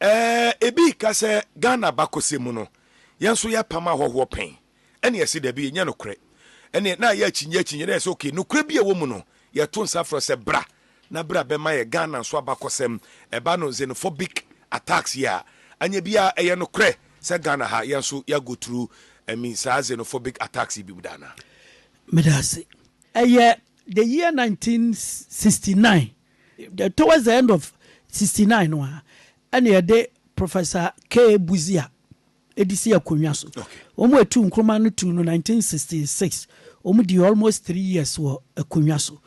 Ɛɛ ebi reka sɛ Ghana abakɔsɛm mu no, yɛn nso yɛpam ahɔhoɔ pɛn? Ɛne yɛse dabi, ɛnyɛ nokorɛ. Ɛneɛ na yɛ akyinnye akyinnye, na yɛse ok, nokorɛ bi a ɛwɔ mu no, yɛto nsa frɛ sɛ bra na bra bɛma yɛ Ghana nso abakɔsɛm, ɛba no xenophobic attacks yi a, anyɛ bi a ɛyɛ nokorɛ sɛ Ghana ha, yɛn nso yɛ go through I mean saa xenophobic attacks yi bi mu da anaa? Meda ase. Ɛyɛ the year 1969 Towards the end of sixty nine no ara na yɛde Professor K. Buzi a ɛde sii akonnwa so. Wɔn a ɛtuu Nkrumah no tuu no nineteen sixty six. Wɔn dii almost three years wɔ akonnwa so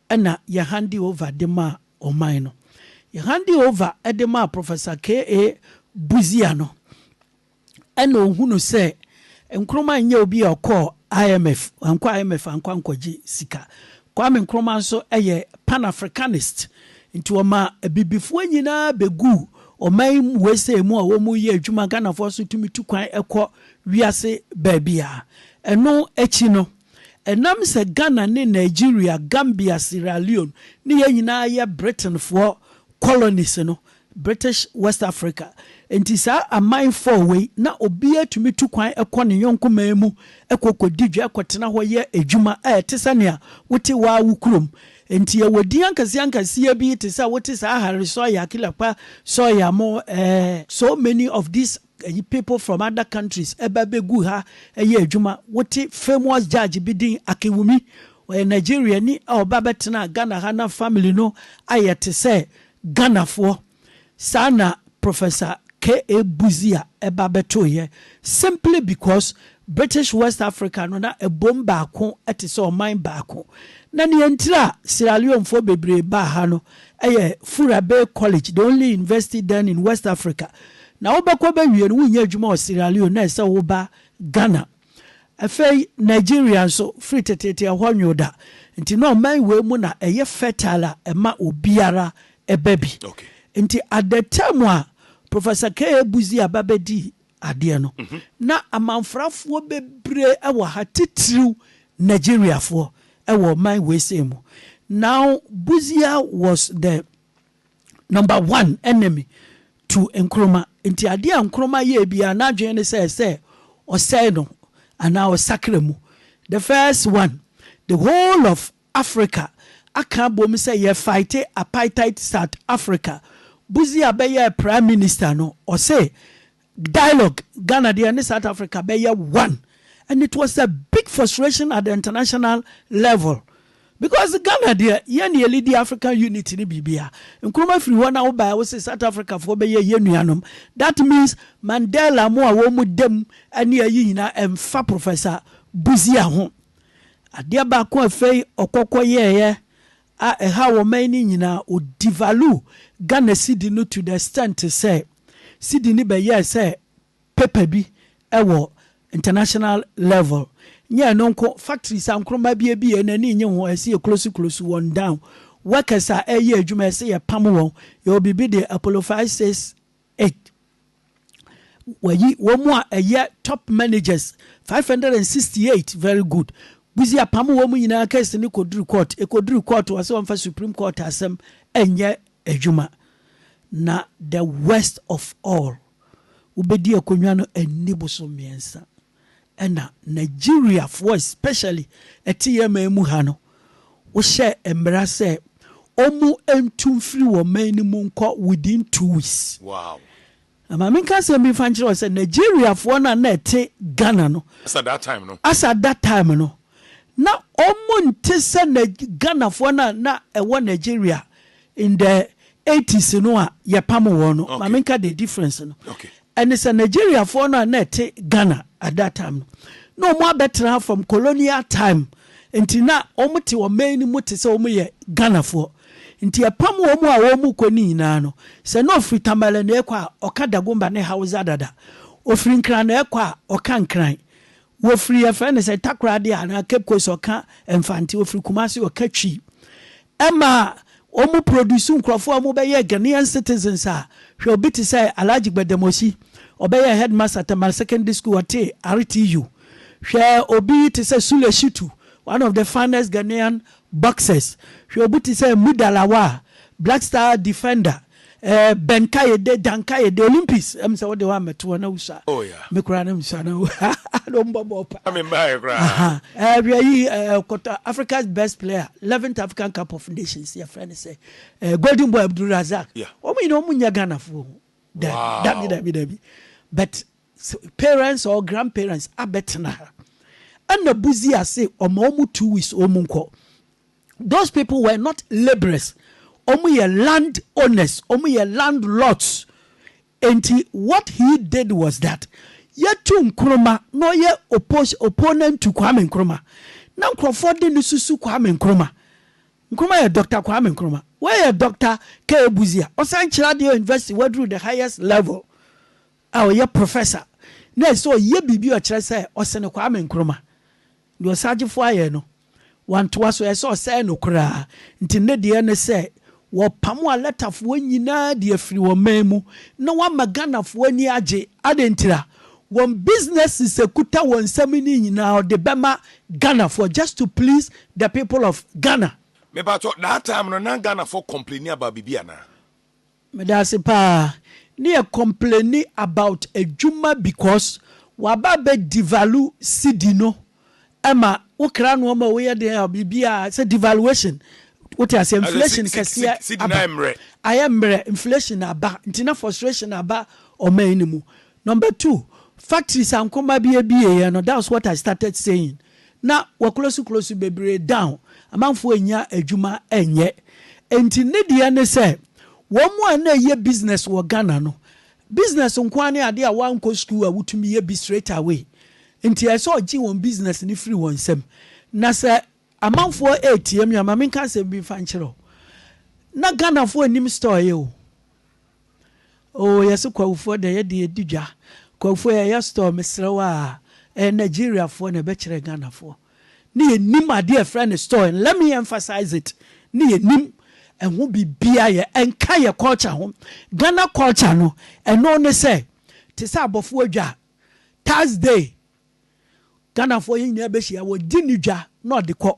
ɛna yɛ hande over de maa ɔman no. Yɛ hande over de maa Professor K. A. Buzi ano ɛna ohu no sɛ Nkrumah nyɛ obi a ɔkɔɔ IMF, wankɔ IMF ankɔ ankɔgye sika. Kwame Nkrumah nso yɛ Pan Africanist, nti ɔma abibifoɔ nyinaa bɛguu ɔman USA mu a wɔyɛ adwuma, Ghanafoɔ nso tumi tu kwan kɔ wiase baabiara. Ɛno akyi no, ɛnam sɛ Ghana ne Nigeria, Gambia, Sierra Leone ne yɛn nyinaa yɛ Britainfoɔ colonies no, British West Africa. Enti saa aman four wei, na obiara tumi tu kwan kɔ ne yɔnko man mu kɔ kɔdi dwa, kɔtena hɔ yɛ adwuma a ɛte sɛ nea wote wo ara wo kurom. Enti yɛwɔ din ankɛseɛ-ankɛseɛ bi te sɛ wote saa Harry Sawyer, Killer Pa Sawyer mo, eh, so many of these Ɛyi people from other countries ba abɛgu ha yɛ adwuma. Wote famous judge bi din Akinwumi, ɔyɛ Nigeriani a ɔba bɛtenaa Ghana ha na family no ayɛ te sɛ Ghanafoɔ. Saa na Professor K.A. Busia ba bɛtoeɛ simply because British West Africa no na ɛbom baako te sɛ ɔman baako, na nea enti a Sierra Leonefoɔ bebree baa ha no yɛ Fura Bay College, the only university then in West Africa. Na wobɛkɔ bɛwie no, wonnya adwuma wɔ Sierra Leone, na ɛsɛ sɛ woba Ghana. Afei Nigeria nso, firi teteete ɛhɔ nwo da, nti na ɔman wei mu na ɛyɛ fertile a ɛma obiara ba bi. Nti at the time a Professor K. A. Buzi aba bɛdii adeɛ no, na amanfrafoɔ bebree wɔ ha, titiriw Nigeriafoɔ wɔ ɔman weisei mu. Now Busia was the number one enemy to Nkrumah, nti adeɛ a Nkrumah yɛɛ biara n'adwene ne sɛ sɛ ɔsɛe no anaa ɔsakra mu. The first one, the whole of Africa aka abom sɛ yɛ faete apaitaet South Africa Budzi a bɛyɛɛ prime minister no ɔse dialogue Ghana deɛ ne South Africa bɛyɛ one and it was a big frustration at the international level because Ghana deɛ yɛn ne yɛlidi African unity ne biribia Nkrumah firi hɔ na wobaɛ wose South Africa foɔ bɛyɛ yɛn nuanom that means Mandela mo a wɔn mu dam ne ayi nyinaa ɛmfa Professor Budzia ho Adeɛ baako a afei ɔkɔ kɔ yɛɛyɛ a ɛhaw ɔman yi no nyinaa, ɔ devalue Ghana cedi no to the extent sɛ cedi no bɛyɛɛ sɛ paper bi wɔ international level. Nyɛ ɛno nko, factories a Nkrumah bie bie yɛn ani nnye ho, ɛse yɛ close close wɔn down, workers a ɛɛyɛ adwuma ɛse yɛ pam wɔn, yɛwɔ biribi de apolophysis, Ed. Wayi wɔn a ɛyɛ top managers five hundred and sixty eight very good Buzi apamo wɔn nyinaa case no kɔduru court ɛkɔduru court ɔse ɔmfa supreme court asɛm ɛnyɛ adwuma na the worst of all wobɛdi akonnwa no ɛnni boso mmiɛnsa. na Nigeriafoɔ especially ɛte yɛn man mu ha no, wohyɛɛ mmara sɛ wɔntu mfiri wɔn man no mu nkɔ within two weeks. Wow. Na ma menka asɛm bi mfa nkyerɛ wo sɛ Nigeriafoɔ no a na ɛte Ghana no. As at that time no. As at that time no. na ɔmo nte sɛ Nag Ghanafoɔ no a na ɛwɔ Nigeria in the eighties no a yɛpamo wɔn no. Ma menka the difference no. Ɛne sɛ Nigeriafoɔ no a na ɛte Ghana at that time no, na ɔmo abɛtra ha from colonial time nti na ɔmo te ɔman no mu te sɛ ɔmo yɛ Ghanafoɔ. Nti yɛpam ɔmo a ɔmo kɔ no nyinaa no, sɛ na ɔfiri Tamale na ɛkɔ a, ɔka Dagomba ne Hausa dada. Ɔfiri Nkran na ɛkɔ a, ɔka Nkran. Wɔfiri yɛfrɛ no sɛ Takoradi anaa Cape Coast ɔka Mfante, ɔfiri Kumasi ɔka Twi. Ɛma wɔn produce nkurɔfoɔ a wɔbɛyɛɛ Ghanaian citizens a hwɛ obi te sɛ Alhaji Gbademosi, ɔbɛyɛɛ headmaster Tamale Secondary School ɔtee RTU. Hwɛ obi te sɛ Sule Shitu, one of the finest Ghanaian boxers. Hwɛ obi te sɛ Muda Lawal, black star defender. Eh bɛ nkaeɛ de da nkaeɛ de Olympics ɛm sɛ wode hɔ a mɛto hɔ na wusua oh ya me koraa na mesua na na ɔmbɔ bɔɔ paa na membaeɛ koraa eh hwɛ yi eh kɔtɔ Africa's best player 11th African Cup of Nations yɛfrɛ no sɛ eh Golden Boy Abdul Razak yeah. wɔn nyinaa wɔn nyɛ Ghanafoɔ dabi dabi dabi dabi but parents or grand parents abɛtena ha ɛna buzi ase ɔma ɔmu two weeks ɔmu nkɔ those people were not labourers ɔmu yɛ land owners ɔmu yɛ landlords nti what he did was that yɛtu nkroma na ɔyɛ oppose opponent to kwame nkroma na nkurɔfoɔ de ne susu kwame nkroma nkroma yɛ dr kwame nkroma wɔyɛ dr k buzia ɔsan kyerɛ adeɛ university waduru the highest level a ɔyɛ professor na ɛsɛ sɛ ɔyɛ biribi a ɔkyerɛ sɛ ɔsene Kwame Nkrumah. Deɛ Osagyefo ayɛ no, wantoa so, ɛyɛ sɛ ɔsɛe no koraa. Nti ne deɛ ne sɛ wɔpamo Alatafoɔ nyinaa de afiri wɔn man mu na wɔama Ghanafoɔ ani agye. Adɛn ntira? Wɔn businesses a ɛkuta wɔn nsam no nyinaa wɔde bɛma Ghanafoɔ just to please the people of Ghana. Mepakyɛw, that time no na Ghanafoɔ complaini about biribi anaa? Medase paa ne yɛ complaini about adwuma because waba bɛ devalue cedi no ɛma wo kra noɔma a woyɛ den a biribiaa sɛ devaluation wote aseɛ inflation kɛseɛ aba ayɛ mmerɛ inflation aba nti na frustration aba ɔman no mu Number two, factories a nkruma bi abieɛ no that's what I started saying, na w'aklosi klosi bebree down, amanfoɔ annya adwuma anyɛ, nti ne deɛ ne sɛ wɔn a na ɛyɛ business wɔ Ghana no, business nko ara ne adeɛ a w'ankɔ school a wotumi yɛ bi straight away, nti ɛsɛ ɔgye wɔn business no firi wɔn nsam, na sɛ Amanfoɔ reteam yɛn, ma menka asɛm bi mfa nkyerɛ wo, na Ghanafoɔ nnim store yɛ o, oo yɛse Kwahufoɔ dɛ yɛde yɛdi dwa, Kwahufoɔ yɛyɛ store mesrɛ wo aa, ɛyɛ Nigeriafoɔ na ɛbɛkyerɛ Ghanafoɔ, ne yɛnnim adeɛ a ɛfrɛ no store, and let me emphasize it, ne yɛnnim ɛho biribiara, yɛ ɛnka yɛ culture ho, Ghana culture no ɛno ne sɛ, te sɛ abɔfoɔ dwa, Thursday, Ghanafoɔ yɛn nyinaa bɛhyia, wɔgye ne dwa na ɔde kɔ.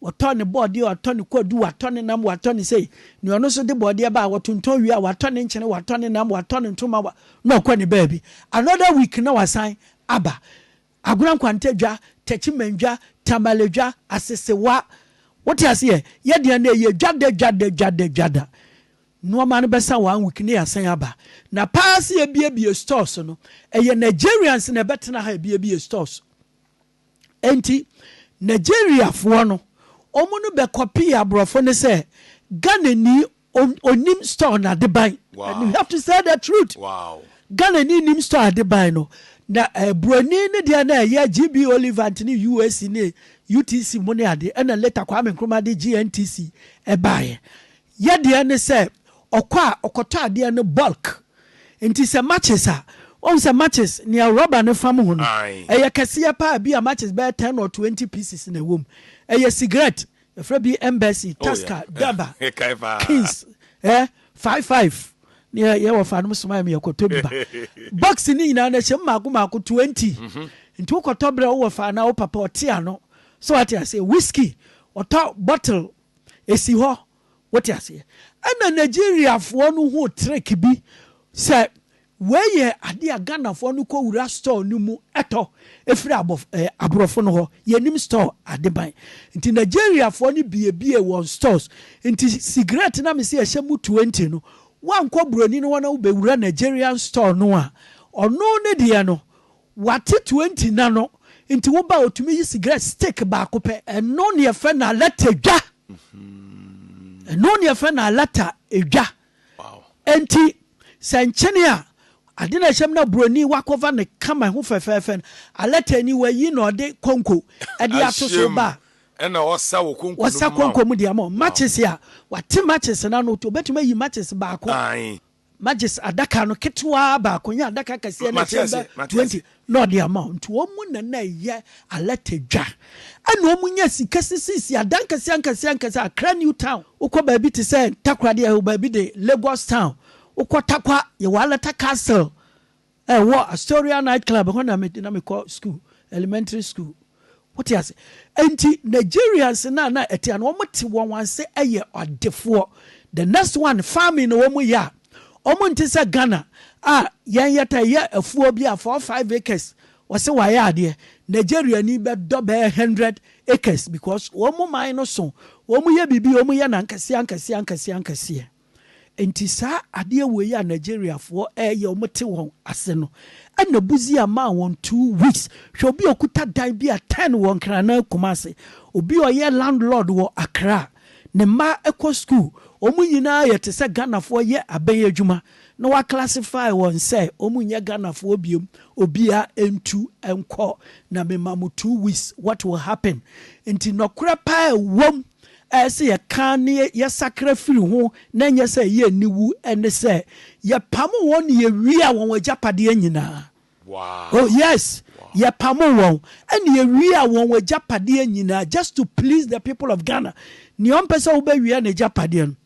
Wɔtɔ ne bɔɔdeɛ, wɔatɔ ne kwadu, wɔatɔ ne nam, wɔatɔ ne sei. Nea ɔno nso de bɔɔdeɛ ba a, wɔtontɔn wie a, wɔatɔ ne nkyene, wɔatɔ ne nam, wɔatɔ ne ntoma, wa, na ɔkɔ ne baabi. Another week na wasan aba. Agorɔ Nkwanta dwa, Techiman dwa, Tamale dwa, Asesewa. Wote aseɛ? Yɛn deɛ no, ɛyɛ dwa da, dwa da, dwa da, dwa da. Nnoɔma no bɛsa one week na yɛasan aba. Na paa sɛ yɛabiebie stores no, ɛyɛ Nigerians na ɛbɛtena ha abiebie stores. Ɛnti Nigeriafoɔ no, wɔn no bɛ copy aborɔfo no sɛ Ghanani ɔnim store no adeban. And you have to say the truth. Ghanani nnim store adeban no. Na eh, buroni ne deɛ na ɛyɛ GB Olivant ne UAC ne UTC mu ne ade. Ɛna later Kwame Nkrumah de GNTC ɛbaeɛ. Yadeɛ ne sɛ ɔkɔ a ɔkɔtɔ adeɛ no bulk nti sɛ matches a wahu sɛ matches nea rubber no fam ho no ɛyɛ kɛseɛ paa bi a matches bɛyɛ ten or twenty pieces na ɛwɔ mu ɛyɛ cigarette yɛfrɛ bi embassy taska daba kings eh five five ne yɛ yɛ wɔ fa nom soma yɛ kɔtɔ bi ba box ne nyinaa na ɛhyɛ mu mako mako twenty nti wokɔtɔ berɛ wowɔ fa na wo papa ɔte ano so wate ase whisky ɔtɔ bottle Esi hɔ. Wote aseɛ? Ɛna Nigeriafoɔ no huu trick bi sɛ wei yɛ adeɛ a Ghanafoɔ no kɔ wura store no mu tɔ firi abɔ ɛɛ aborɔfo no hɔ. Yɛnim store ade ban. Nti Nigeriafoɔ no biebiee wɔn stores. Nti sigaret no a mese ɛhyɛ mu twenty no, woankɔ buroni no hɔ na wobɛwura Nigerian store no a, ɔno ne deɛ no, Wate twenty na no nti wo ba a otumi yi sigrɛt stick baako pɛ. Ɛno ne yɛfrɛ no alata dwa. Ɛno ne yɛfrɛ no alata dwa. Enti sɛ nkyene a ade na ɛhyɛ mu na buroni wakɔfa no kama ɛho fɛfɛɛfɛ no, alata ni wayi na ɔde konko de ato so ba a, ɛna ɔsa wɔ konko no mu ma wo. Ɔsa konko mu de ama wo. Matches a wate matches no ano, obetumi ayi matches baako. Majes adaka no ketewaa baako nye adaka kɛseɛ no a ɛkyɛn bɛ twenty na ɔde ama wɔn. Nti wɔn na na ɛyɛ alɛt adwa. Ɛna wɔn nya sika sisiisi adan nkɛseɛ nkɛseɛ nkɛseɛ, Accra New Town, wokɔ baabi te sɛ Takoradi, baabi de Lagos Town, wokɔ Tarkwa, yɛwɔ Alata Castle, Ɛwɔ Astoria Night Club hɔ na na mekɔ sukuu, elementary school. Wote ase? Enti Nigerians no a na ɛte a na wɔte wɔn ase yɛ adefoɔ. The next one, farming na wɔyɛ a, wɔnte sɛ Ghana a yɛn yɛtaa yɛ afuo bi a four five acres wɔse wɔayɛ adeɛ. Nigeriani bɛdɔ bɛyɛ hundred acres because wɔn man no so, wɔyɛ biribi, wɔyɛ no ankeseɛ ankeseɛ ankeseɛ ankeseɛ. Enti saa adeɛ wei a Nigeriafoɔ ɛɛyɛ wɔn te wɔn ase no ɛna Busia maa wɔn two weeks hwɛ obi a ɔkuta dan bi a ten wɔ Nkranan Kumasi obi a ɔyɛ landlord wɔ Accra ne mma ɛkɔ school wɔn nyinaa yɛ te sɛ Ghanafoɔ yɛ abɛn adwuma na wa classify wɔn sɛ wɔn nyɛ Ghanafoɔ biom obia ɛntu ɛnkɔ na me ma mo two weeks what will happen nti nɔkorɛ paa ɛwɔ mu a ɛsɛ sɛ yɛka na yɛsakra firi ho na ɛnyɛ sɛ ɛyɛ aniwu ne sɛ, Yɛpamoo wɔn na yewiaa wɔn agyapadeɛ nyinaa. Oh, yes! Yɛpamoo wɔn na yewiaa wɔn agyapadeɛ nyinaa, just to please the people of Ghana. Nea ɔmpɛ sɛ wobɛwia n'agyapadeɛ no,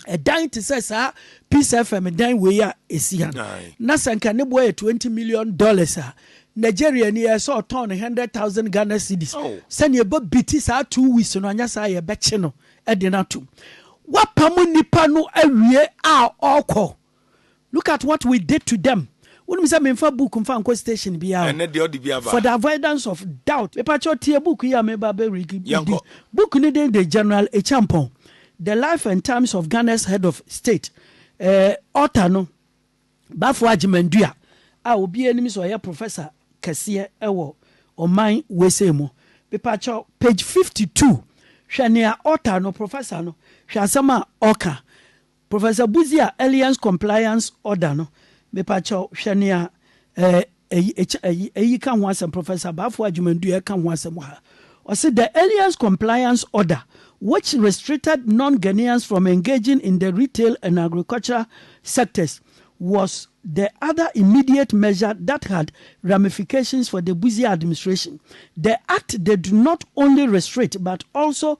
ɛdan te sɛ saa Peace FM dan wei a ɛsi ha no, na sɛ nka ne boɔ yɛ twenty million dollars a, Nigeria ni ɛsɛ ɔtɔn no hundred thousand Ghana cedis oh. sɛnea ɛbɔ biti saa two weeks no anyɛ saa yɛbɛkye no de no atom. Wapam nipa no awie a ɔkɔ. Look at what we did to them Wonim sɛ menfa book mfa nkɔ station biara o. Ɛnnɛ deɛ ɔde bi aba. For the avoidance of doubt Mepakyɛw tie book yi a meba bɛ read yi Yɛnkɔ. bi. Book no din de General Acheampong, The Life and Times of Ghana's Head of State. Eh, author no, Baffour Agyeman-Duah a obiara nim sɛ ɔyɛ professor kɛseɛ wɔ ɔman weisei mu. Mepakyɛw, page 52, hwɛ nea author no, professor no, hwɛ asɛm a ɔka. Professor Buzi a Alliance Compliance Order no mepakyɛw hwɛ nea eh, eyi, ekyɛ, eyi, eyi ka ho asɛm, Professor Abaafoɔ Agyeman-Duah ka ho asɛm wɔ ha. Ɔse, The Alliance Compliance Order, which restricted non-Ghanaians from engaging in the retail and agricultural sectors, was the other immediate measure that had ramifications for the Buzi administration. The act did not only restrict but also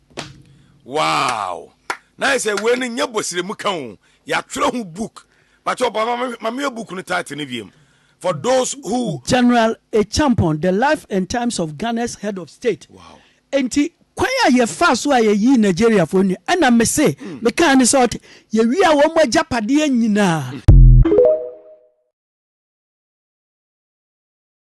Wow na ayɛ sɛ wei no nyɛ bɔsiremu ka o yɛatwerɛ ho book bakyɛ ɔba ma meyɛ book no title no wiem for those who. General Acheampong, The Life and Times of Ghana's Head of State. Wow. Enti kwan a yɛfaa so a yɛyii Nigeriafoɔ nnuane, ɛna mese mekaa ne sɛ ɔte, yɛwiaa wɔn agyapadeɛ nyinaa.